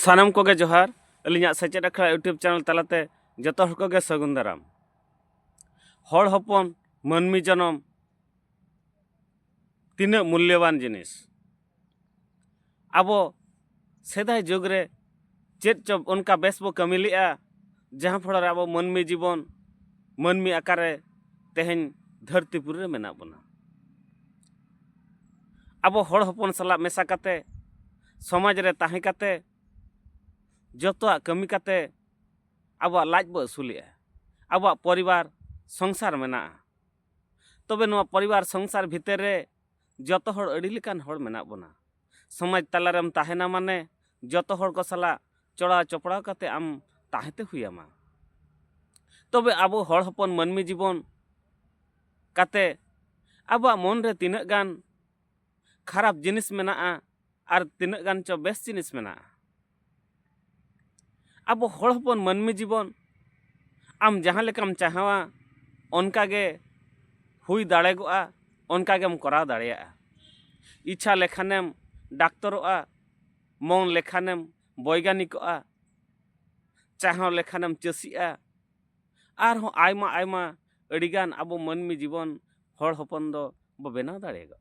ᱥᱟᱱᱟᱢ ᱠᱚᱜᱮ ᱡᱚᱦᱟᱨ ᱟᱹᱞᱤᱧᱟᱜ ᱥᱮᱪᱮᱫ ᱟᱠᱷᱲᱟ ᱤᱭᱩᱴᱩᱵᱽ ᱪᱮᱱᱮᱞ ᱛᱟᱞᱟᱛᱮ ᱡᱚᱛᱚ ᱦᱚᱲ ᱠᱚᱜᱮ ᱥᱟᱹᱜᱩᱱ ᱫᱟᱨᱟᱢ ᱦᱚᱲ ᱦᱚᱯᱚᱱ ᱢᱟᱹᱱᱢᱤ ᱡᱚᱱᱚᱢ ᱛᱤᱱᱟᱹᱜ ᱢᱩᱞᱞᱚᱵᱟᱱ ᱡᱤᱱᱤᱥ ᱟᱵᱚ ᱥᱮᱫᱟᱭ ᱡᱩᱜᱽ ᱨᱮ ᱪᱮᱫ ᱪᱚ ᱚᱱᱠᱟ ᱵᱮᱥ ᱵᱚ ᱠᱟᱹᱢᱤ ᱞᱮᱜᱼᱟ ᱡᱟᱦᱟᱸ ᱯᱷᱚᱲᱚ ᱨᱮ ᱟᱵᱚ ᱢᱟᱹᱱᱢᱤ ᱡᱤᱵᱚᱱ ᱢᱟᱹᱱᱢᱤ ᱟᱠᱟᱨ ᱨᱮ ᱛᱮᱦᱮᱧ ᱫᱷᱟᱹᱨᱛᱤ ᱯᱩᱨᱤ ᱨᱮ ᱢᱮᱱᱟᱜ ᱵᱚᱱᱟ ᱟᱵᱚ ᱦᱚᱲ ᱦᱚᱯᱚᱱ ᱥᱟᱞᱟᱜ ᱢᱮᱥᱟ ᱠᱟᱛᱮ ᱥᱚᱢᱟᱡᱽ ᱨᱮ ᱛᱟᱦᱮᱸ ᱠᱟᱛᱮ ᱡᱚᱛᱚᱣᱟᱜ ᱠᱟᱹᱢᱤ ᱠᱟᱛᱮ ᱟᱵᱚᱣᱟᱜ ᱞᱟᱡ ᱵᱚ ᱟᱹᱥᱩᱞᱮᱜᱼᱟ ᱟᱵᱚᱣᱟᱜ ᱯᱚᱨᱤᱵᱟᱨ ᱥᱚᱝᱥᱟᱨ ᱢᱮᱱᱟᱜᱼᱟ ᱛᱚᱵᱮ ᱱᱚᱣᱟ ᱯᱚᱨᱤᱵᱟᱨ ᱥᱚᱝᱥᱟᱨ ᱵᱷᱤᱛᱟᱹᱨ ᱨᱮ ᱡᱚᱛᱚ ᱦᱚᱲ ᱟᱹᱰᱤ ᱞᱮᱠᱟᱱ ᱦᱚᱲ ᱢᱮᱱᱟᱜ ᱵᱚᱱᱟ ᱥᱚᱢᱟᱡᱽ ᱛᱟᱞᱟ ᱨᱮᱢ ᱛᱟᱦᱮᱱᱟ ᱢᱟᱱᱮ ᱡᱚᱛᱚ ᱦᱚᱲ ᱠᱚ ᱥᱟᱞᱟᱜ ᱪᱚᱲᱟᱣ ᱪᱚᱯᱲᱟᱣ ᱠᱟᱛᱮ ᱟᱢ ᱛᱟᱦᱮᱸ ᱛᱮ ᱦᱩᱭ ᱟᱢᱟ ᱛᱚᱵᱮ ᱟᱵᱚ ᱦᱚᱲ ᱦᱚᱯᱚᱱ ᱢᱟᱹᱱᱢᱤ ᱡᱤᱵᱚᱱ ᱠᱟᱛᱮ ᱟᱵᱚᱣᱟᱜ ᱢᱚᱱ ᱨᱮ ᱛᱤᱱᱟᱹᱜ ᱜᱟᱱ ᱠᱷᱟᱨᱟᱯ ᱡᱤᱱᱤᱥ ᱢᱮᱱᱟᱜᱼᱟ ᱟᱨ ᱛᱤᱱᱟᱹᱜ ᱜᱟᱱ ᱪᱚ ᱵᱮᱥ ᱡᱤᱱᱤᱥ ᱢᱮᱱᱟᱜᱼᱟ ᱟᱵᱚ ᱦᱚᱲ ᱦᱚᱯᱚᱱ ᱢᱟᱹᱱᱢᱤ ᱡᱤᱵᱚᱱ ᱟᱢ ᱡᱟᱦᱟᱸ ᱞᱮᱠᱟᱢ ᱪᱟᱦᱟᱣᱟ ᱚᱱᱠᱟ ᱜᱮ ᱦᱩᱭ ᱫᱟᱲᱮᱜᱚᱜᱼᱟ ᱚᱱᱠᱟ ᱜᱮᱢ ᱠᱚᱨᱟᱣ ᱫᱟᱲᱮᱭᱟᱜᱼᱟ ᱤᱪᱪᱷᱟ ᱞᱮᱠᱷᱟᱱᱮᱢ ᱰᱟᱠᱛᱚᱨᱚᱜᱼᱟ ᱢᱚᱱ ᱞᱮᱠᱷᱟᱱᱮᱢ ᱵᱚᱭᱜᱟᱱᱤᱠᱚᱜᱼᱟ ᱪᱟᱦᱟᱣ ᱞᱮᱠᱷᱟᱱᱮᱢ ᱪᱟᱹᱥᱤᱜᱼᱟ ᱟᱨᱦᱚᱸ ᱟᱭᱢᱟ ᱟᱭᱢᱟ ᱟᱹᱰᱤᱜᱟᱱ ᱟᱵᱚ ᱢᱟᱹᱱᱢᱤ ᱡᱤᱵᱚᱱ ᱦᱚᱲ ᱦᱚᱯᱚᱱ ᱫᱚ ᱵᱚ ᱵᱮᱱᱟᱣ ᱫᱟᱲᱮᱭᱟᱜᱼᱟ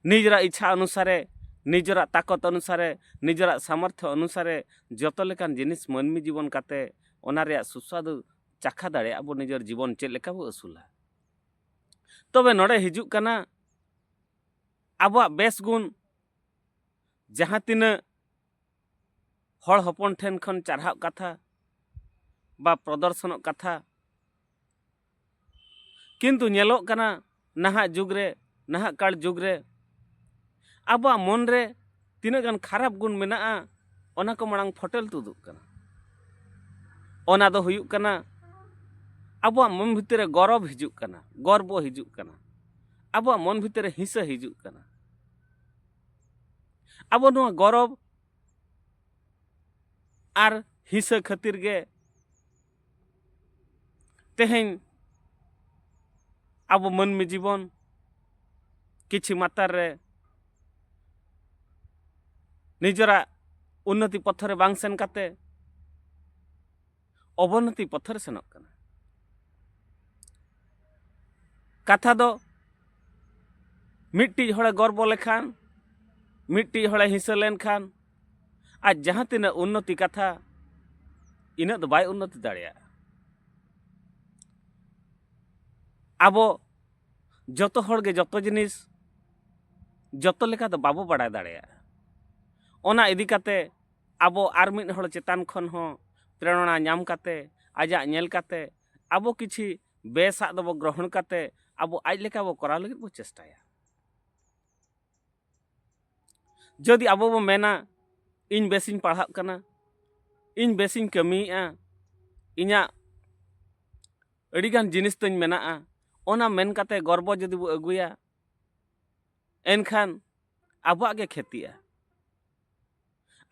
ᱱᱤᱡᱮᱨᱟᱜ ᱤᱪᱪᱷᱟ ᱚᱱᱩᱥᱟᱨᱮ ᱱᱤᱡᱮᱨᱟᱜ ᱛᱟᱠᱚᱛ ᱚᱱᱩᱥᱟᱨᱮ ᱱᱤᱡᱮᱨᱟᱜ ᱥᱟᱢᱚᱨᱛᱷᱚ ᱚᱱᱩᱥᱟᱨᱮ ᱡᱚᱛᱚ ᱞᱮᱠᱟᱱ ᱡᱤᱱᱤᱥ ᱢᱟᱹᱱᱢᱤ ᱡᱤᱵᱚᱱ ᱠᱟᱛᱮ ᱚᱱᱟ ᱨᱮᱭᱟᱜ ᱥᱩᱥᱣᱟᱫᱩ ᱪᱟᱠᱷᱟ ᱫᱟᱲᱮᱭᱟᱜᱼᱟ ᱵᱚ ᱱᱤᱡᱮᱨ ᱡᱤᱵᱚᱱ ᱪᱮᱫ ᱞᱮᱠᱟ ᱵᱚ ᱟᱹᱥᱩᱞᱟ ᱛᱚᱵᱮ ᱱᱚᱰᱮ ᱦᱤᱡᱩᱜ ᱠᱟᱱᱟ ᱟᱵᱚᱣᱟᱜ ᱵᱮᱥ ᱜᱩᱱ ᱡᱟᱦᱟᱸ ᱛᱤᱱᱟᱹᱜ ᱦᱚᱲ ᱦᱚᱯᱚᱱ ᱴᱷᱮᱱ ᱠᱷᱚᱱ ᱪᱟᱨᱦᱟᱣ ᱠᱟᱛᱷᱟ ᱵᱟ ᱯᱨᱚᱫᱚᱨᱥᱚᱱᱚᱜ ᱠᱟᱛᱷᱟ ᱠᱤᱱᱛᱩ ᱧᱮᱞᱚᱜ ᱠᱟᱱᱟ ᱱᱟᱦᱟᱜ ᱡᱩᱜᱽ ᱨᱮ ᱱᱟᱦᱟᱜ ᱠᱟᱞ ᱡᱩᱜᱽ ᱨᱮ ᱟᱵᱚᱣᱟᱜ ᱢᱚᱱ ᱨᱮ ᱛᱤᱱᱟᱹᱜ ᱜᱟᱱ ᱠᱷᱟᱨᱟᱯ ᱜᱩᱱ ᱢᱮᱱᱟᱜᱼᱟ ᱚᱱᱟ ᱠᱚ ᱢᱟᱲᱟᱝ ᱯᱷᱚᱴᱮᱞ ᱛᱩᱫᱩᱜ ᱠᱟᱱᱟ ᱚᱱᱟ ᱫᱚ ᱦᱩᱭᱩᱜ ᱠᱟᱱᱟ ᱟᱵᱚᱣᱟᱜ ᱢᱚᱱ ᱵᱷᱤᱛᱤᱨ ᱨᱮ ᱜᱚᱨᱚᱵᱽ ᱦᱤᱡᱩᱜ ᱠᱟᱱᱟ ᱜᱚᱨᱵᱚ ᱦᱤᱡᱩᱜ ᱠᱟᱱᱟ ᱟᱵᱚᱣᱟᱜ ᱢᱚᱱ ᱵᱷᱤᱛᱤᱨ ᱨᱮ ᱦᱤᱸᱥᱟᱹ ᱦᱤᱡᱩᱜ ᱠᱟᱱᱟ ᱟᱵᱚ ᱱᱚᱣᱟ ᱜᱚᱨᱚᱵᱽ ᱟᱨ ᱦᱤᱸᱥᱟᱹ ᱠᱷᱟᱹᱛᱤᱨ ᱜᱮ ᱛᱮᱦᱮᱧ ᱟᱵᱚ ᱢᱟᱹᱱᱢᱤ ᱡᱤᱵᱚᱱ ᱠᱤᱪᱷᱩ ᱢᱟᱛᱟᱨ ᱨᱮ ᱱᱤᱡᱮᱨᱟᱜ ᱩᱱᱱᱚᱛᱤ ᱯᱚᱛᱷᱚ ᱨᱮ ᱵᱟᱝ ᱥᱮᱱ ᱠᱟᱛᱮ ᱚᱵᱚᱱᱚᱛᱤ ᱯᱚᱛᱷᱚ ᱨᱮ ᱥᱮᱱᱚᱜ ᱠᱟᱱᱟ ᱠᱟᱛᱷᱟ ᱫᱚ ᱢᱤᱫᱴᱤᱡ ᱦᱚᱲᱮ ᱜᱚᱨᱵᱚ ᱞᱮᱠᱷᱟᱱ ᱢᱤᱫᱴᱤᱡ ᱦᱚᱲᱮ ᱦᱤᱥᱟᱹ ᱞᱮᱱᱠᱷᱟᱱ ᱟᱡ ᱡᱟᱦᱟᱸ ᱛᱤᱱᱟᱹᱜ ᱩᱱᱱᱚᱛᱤ ᱠᱟᱛᱷᱟ ᱤᱱᱟᱹᱜ ᱫᱚ ᱵᱟᱭ ᱩᱱᱱᱚᱛᱤ ᱫᱟᱲᱮᱭᱟᱜᱼᱟ ᱟᱵᱚ ᱡᱚᱛᱚ ᱦᱚᱲᱜᱮ ᱡᱚᱛᱚ ᱡᱤᱱᱤᱥ ᱡᱚᱛᱚ ᱞᱮᱠᱟ ᱫᱚ ᱵᱟᱵᱚ ᱵᱟᱲᱟᱭ ᱫᱟᱲᱮᱭᱟᱜᱼᱟ ᱚᱱᱟ ᱤᱫᱤ ᱠᱟᱛᱮ ᱟᱵᱚ ᱟᱨ ᱢᱤᱫ ᱦᱚᱲ ᱪᱮᱛᱟᱱ ᱠᱷᱚᱱ ᱦᱚᱸ ᱯᱨᱮᱨᱚᱱᱟ ᱧᱟᱢ ᱠᱟᱛᱮ ᱟᱡᱟᱜ ᱧᱮᱞ ᱠᱟᱛᱮ ᱟᱵᱚ ᱠᱤᱪᱷᱤ ᱵᱮᱥᱟᱜ ᱫᱚᱵᱚ ᱜᱨᱚᱦᱚᱱ ᱠᱟᱛᱮ ᱟᱵᱚ ᱟᱡ ᱞᱮᱠᱟ ᱵᱚ ᱠᱚᱨᱟᱣ ᱞᱟᱹᱜᱤᱫ ᱵᱚ ᱪᱮᱥᱴᱟᱭᱟ ᱡᱩᱫᱤ ᱟᱵᱚ ᱵᱚ ᱢᱮᱱᱟ ᱤᱧ ᱵᱮᱥᱤᱧ ᱯᱟᱲᱦᱟᱜ ᱠᱟᱱᱟ ᱤᱧ ᱵᱮᱥᱤᱧ ᱠᱟᱹᱢᱤᱭᱮᱫᱼᱟ ᱤᱧᱟᱹᱜ ᱟᱹᱰᱤᱜᱟᱱ ᱡᱤᱱᱤᱥ ᱛᱤᱧ ᱢᱮᱱᱟᱜᱼᱟ ᱚᱱᱟ ᱢᱮᱱ ᱠᱟᱛᱮ ᱜᱚᱨᱵᱚ ᱡᱩᱫᱤ ᱵᱚ ᱟᱹᱜᱩᱭᱟ ᱮᱱᱠᱷᱟᱱ ᱟᱵᱚᱣᱟᱜ ᱜᱮ ᱠᱷᱮᱛᱤᱜᱼᱟ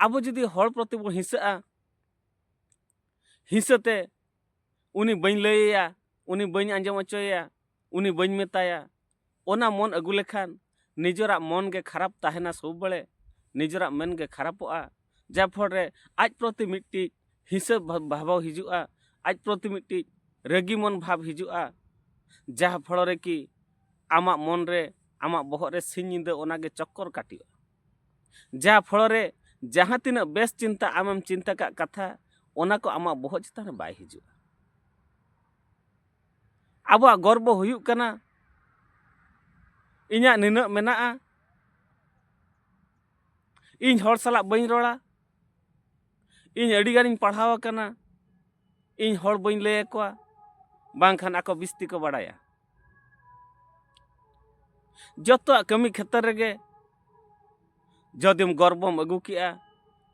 ᱟᱵᱚ ᱡᱩᱫᱤ ᱦᱚᱲ ᱯᱨᱚᱛᱤ ᱵᱚ ᱦᱤᱸᱥᱟᱹᱜᱼᱟ ᱦᱤᱸᱥᱟᱹᱛᱮ ᱩᱱᱤ ᱵᱟᱹᱧ ᱞᱟᱹᱭᱟᱭᱟ ᱩᱱᱤ ᱵᱟᱹᱧ ᱟᱸᱡᱚᱢ ᱦᱚᱪᱚᱭᱮᱭᱟ ᱩᱱᱤ ᱵᱟᱹᱧ ᱢᱮᱛᱟᱭᱟ ᱚᱱᱟ ᱢᱚᱱ ᱟᱹᱜᱩ ᱞᱮᱠᱷᱟᱱ ᱱᱤᱡᱚᱨᱟᱜ ᱢᱚᱱ ᱜᱮ ᱠᱷᱟᱨᱟᱯ ᱛᱟᱦᱮᱱᱟ ᱥᱚᱵ ᱵᱮᱲᱮ ᱱᱤᱡᱚᱨᱟᱜ ᱢᱮᱱ ᱜᱮ ᱠᱷᱟᱨᱟᱯᱚᱜᱼᱟ ᱡᱟ ᱯᱷᱚᱲ ᱨᱮ ᱟᱡ ᱯᱨᱚᱛᱤ ᱢᱤᱫᱴᱤᱡ ᱦᱤᱥᱟᱹᱵ ᱵᱷᱟᱵᱽ ᱦᱤᱡᱩᱜᱼᱟ ᱟᱡ ᱯᱨᱚᱛᱤ ᱢᱤᱫᱴᱤᱡ ᱨᱟᱹᱜᱤ ᱢᱚᱱ ᱵᱷᱟᱵᱽ ᱦᱤᱡᱩᱜᱼᱟ ᱡᱟ ᱯᱷᱚᱲ ᱨᱮ ᱠᱤ ᱟᱢᱟᱜ ᱢᱚᱱ ᱨᱮ ᱟᱢᱟᱜ ᱵᱚᱦᱚᱜ ᱨᱮ ᱥᱤᱧ ᱧᱤᱫᱟᱹ ᱚᱱᱟ ᱜᱮ ᱪᱚᱠᱠᱚᱨ ᱠᱟᱹᱴᱤᱜᱼᱟ ᱡᱟ ᱯᱷᱚᱲ ᱨᱮ ᱡᱟᱦᱟᱸ ᱛᱤᱱᱟᱹᱜ ᱵᱮᱥ ᱪᱤᱱᱛᱟ ᱟᱢᱮᱢ ᱪᱤᱱᱛᱟ ᱠᱟᱜ ᱠᱟᱛᱷᱟ ᱚᱱᱟ ᱠᱚ ᱟᱢᱟᱜ ᱵᱚᱦᱚᱜ ᱪᱮᱛᱟᱱ ᱨᱮ ᱵᱟᱭ ᱦᱤᱡᱩᱜᱼᱟ ᱟᱵᱚᱣᱟᱜ ᱜᱚᱨᱵᱚ ᱦᱩᱭᱩᱜ ᱠᱟᱱᱟ ᱤᱧᱟᱹᱜ ᱱᱤᱱᱟᱹᱜ ᱢᱮᱱᱟᱜᱼᱟ ᱤᱧ ᱦᱚᱲ ᱥᱟᱞᱟᱜ ᱵᱟᱹᱧ ᱨᱚᱲᱟ ᱤᱧ ᱟᱹᱰᱤ ᱜᱟᱱᱤᱧ ᱯᱟᱲᱦᱟᱣ ᱟᱠᱟᱱᱟ ᱤᱧ ᱦᱚᱲ ᱵᱟᱹᱧ ᱞᱟᱹᱭ ᱟᱠᱚᱣᱟ ᱵᱟᱝᱠᱷᱟᱱ ᱟᱠᱚ ᱵᱤᱥᱛᱤ ᱠᱚ ᱵᱟᱲᱟᱭᱟ ᱡᱚᱛᱚᱣᱟᱜ ᱠᱟᱹᱢᱤ ᱠᱷᱮᱛᱨᱮ ᱨᱮᱜᱮ ᱡᱚᱫᱤᱢ ᱜᱚᱨᱵᱚᱢ ᱟᱹᱜᱩ ᱠᱮᱜᱼᱟ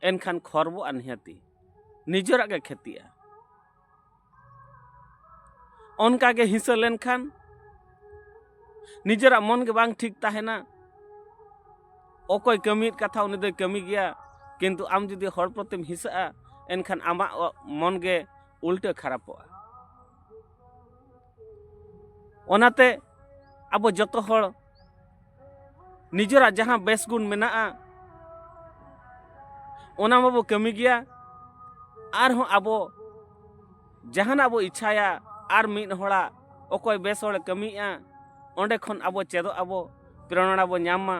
ᱮᱱᱠᱷᱟᱱ ᱠᱷᱚᱨᱵᱚᱜᱼᱟ ᱱᱤᱦᱟᱹᱛᱤ ᱱᱤᱡᱮᱨᱟᱜ ᱜᱮ ᱠᱷᱮᱛᱤᱜᱼᱟ ᱚᱱᱠᱟ ᱜᱮ ᱦᱤᱥᱟᱹ ᱞᱮᱱᱠᱷᱟᱱ ᱱᱤᱡᱮᱨᱟᱜ ᱢᱚᱱ ᱜᱮ ᱵᱟᱝ ᱴᱷᱤᱠ ᱛᱟᱦᱮᱱᱟ ᱚᱠᱚᱭ ᱠᱟᱹᱢᱤᱭᱮᱫ ᱠᱟᱛᱷᱟ ᱩᱱᱤ ᱫᱚᱭ ᱠᱟᱹᱢᱤ ᱜᱮᱭᱟ ᱠᱤᱱᱛᱩ ᱟᱢ ᱡᱩᱫᱤ ᱦᱚᱲ ᱯᱨᱚᱛᱤᱢ ᱦᱤᱥᱟᱹᱜᱼᱟ ᱮᱱᱠᱷᱟᱱ ᱟᱢᱟᱜ ᱢᱚᱱ ᱜᱮ ᱩᱞᱴᱟᱹ ᱠᱷᱟᱨᱟᱯᱚᱜᱼᱟ ᱚᱱᱟᱛᱮ ᱟᱵᱚ ᱡᱚᱛᱚ ᱦᱚᱲ ᱱᱤᱡᱮᱨᱟᱜ ᱡᱟᱦᱟᱸ ᱵᱮᱥ ᱜᱩᱱ ᱢᱮᱱᱟᱜᱼᱟ ᱚᱱᱟ ᱢᱟᱵᱚ ᱠᱟᱹᱢᱤ ᱜᱮᱭᱟ ᱟᱨᱦᱚᱸ ᱟᱵᱚ ᱡᱟᱦᱟᱱᱟᱜ ᱵᱚ ᱤᱪᱪᱷᱟᱭᱟ ᱟᱨ ᱢᱤᱫ ᱦᱚᱲᱟᱜ ᱚᱠᱚᱭ ᱵᱮᱥ ᱦᱚᱲᱮ ᱠᱟᱹᱢᱤᱭᱮᱫᱼᱟ ᱚᱸᱰᱮ ᱠᱷᱚᱱ ᱟᱵᱚ ᱪᱮᱫᱚᱜ ᱟᱵᱚ ᱯᱨᱮᱨᱚᱱᱟ ᱵᱚ ᱧᱟᱢ ᱢᱟ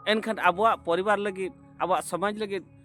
ᱮᱱᱠᱷᱟᱱ ᱟᱵᱚᱣᱟᱜ ᱯᱚᱨᱤᱵᱟᱨ ᱞᱟᱹᱜᱤᱫ ᱟᱵᱚᱣᱟᱜ ᱥᱚᱢᱟᱡᱽ ᱞᱟᱹᱜᱤᱫ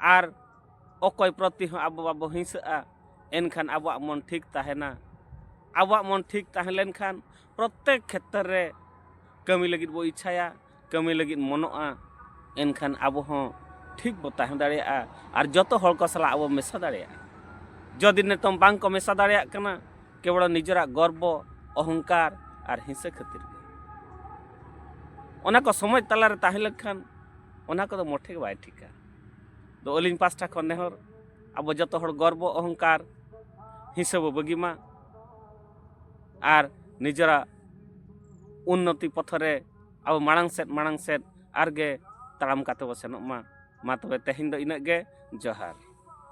ᱟᱨ ᱚᱠᱚᱭ ᱯᱨᱚᱛᱤ ᱦᱚᱸ ᱟᱵᱚ ᱵᱟᱵᱚ ᱦᱤᱸᱥᱟᱹᱜᱼᱟ ᱮᱱᱠᱷᱟᱱ ᱟᱵᱚᱣᱟᱜ ᱢᱚᱱ ᱴᱷᱤᱠ ᱛᱟᱦᱮᱱᱟ ᱟᱵᱚᱣᱟᱜ ᱢᱚᱱ ᱴᱷᱤᱠ ᱛᱟᱦᱮᱸ ᱞᱮᱱᱠᱷᱟᱱ ᱯᱨᱚᱛᱮᱠ ᱠᱷᱮᱛᱨᱮ ᱨᱮ ᱠᱟᱹᱢᱤ ᱞᱟᱹᱜᱤᱫ ᱵᱚ ᱤᱪᱪᱷᱟᱭᱟ ᱠᱟᱹᱢᱤ ᱞᱟᱹᱜᱤᱫ ᱢᱚᱱᱚᱜᱼᱟ ᱮᱱᱠᱷᱟᱱ ᱟᱵᱚ ᱦᱚᱸ ᱴᱷᱤᱠ ᱵᱚ ᱛᱟᱦᱮᱸ ᱫᱟᱲᱮᱭᱟᱜᱼᱟ ᱟᱨ ᱡᱚᱛᱚ ᱦᱚᱲ ᱠᱚ ᱥᱟᱞᱟᱜ ᱟᱵᱚ ᱢᱮᱥᱟ ᱫᱟᱲᱮᱭᱟᱜᱼᱟ ᱡᱚᱫᱤ ᱱᱤᱛᱚᱝ ᱵᱟᱝ ᱠᱚ ᱢᱮᱥᱟ ᱫᱟᱲᱮᱭᱟᱜ ᱠᱟᱱᱟ ᱠᱮᱵᱚᱲ ᱱᱤᱡᱮᱨᱟᱜ ᱜᱚᱨᱵᱚ ᱚᱦᱚᱝᱠᱟᱨ ᱟᱨ ᱦᱤᱸᱥᱟᱹ ᱠᱷᱟᱹᱛᱤᱨ ᱜᱮ ᱚᱱᱟ ᱠᱚ ᱥᱚᱢᱟᱡᱽ ᱛᱟᱞᱟᱨᱮ ᱛᱟᱦᱮᱸ ᱞᱮᱱᱠᱷᱟᱱ ᱚᱱᱟ ᱠᱚᱫᱚ ᱢᱚᱴᱷᱮ ᱜᱮ ᱵᱟᱭ ᱴᱷᱤᱠᱟ ᱫᱚ ᱟᱹᱞᱤᱧ ᱯᱟᱥᱴᱟ ᱠᱷᱚᱱ ᱱᱮᱦᱚᱨ ᱟᱵᱚ ᱡᱚᱛᱚ ᱦᱚᱲ ᱜᱚᱨᱵᱚ ᱚᱦᱚᱝᱠᱟᱨ ᱦᱤᱸᱥᱟᱹ ᱵᱚ ᱵᱟᱹᱜᱤ ᱢᱟ ᱟᱨ ᱱᱤᱡᱮᱨᱟᱜ ᱩᱱᱱᱚᱛᱤ ᱯᱚᱛᱷᱚ ᱨᱮ ᱟᱵᱚ ᱢᱟᱲᱟᱝ ᱥᱮᱫ ᱢᱟᱲᱟᱝ ᱥᱮᱫ ᱟᱨᱜᱮ ᱛᱟᱲᱟᱢ ᱠᱟᱛᱮ ᱵᱚ ᱥᱮᱱᱚᱜ ᱢᱟ ᱢᱟ ᱛᱚᱵᱮ ᱛᱮᱦᱮᱧ ᱫᱚ ᱤᱱᱟᱹᱜ ᱜᱮ ᱡᱚᱦᱟᱨ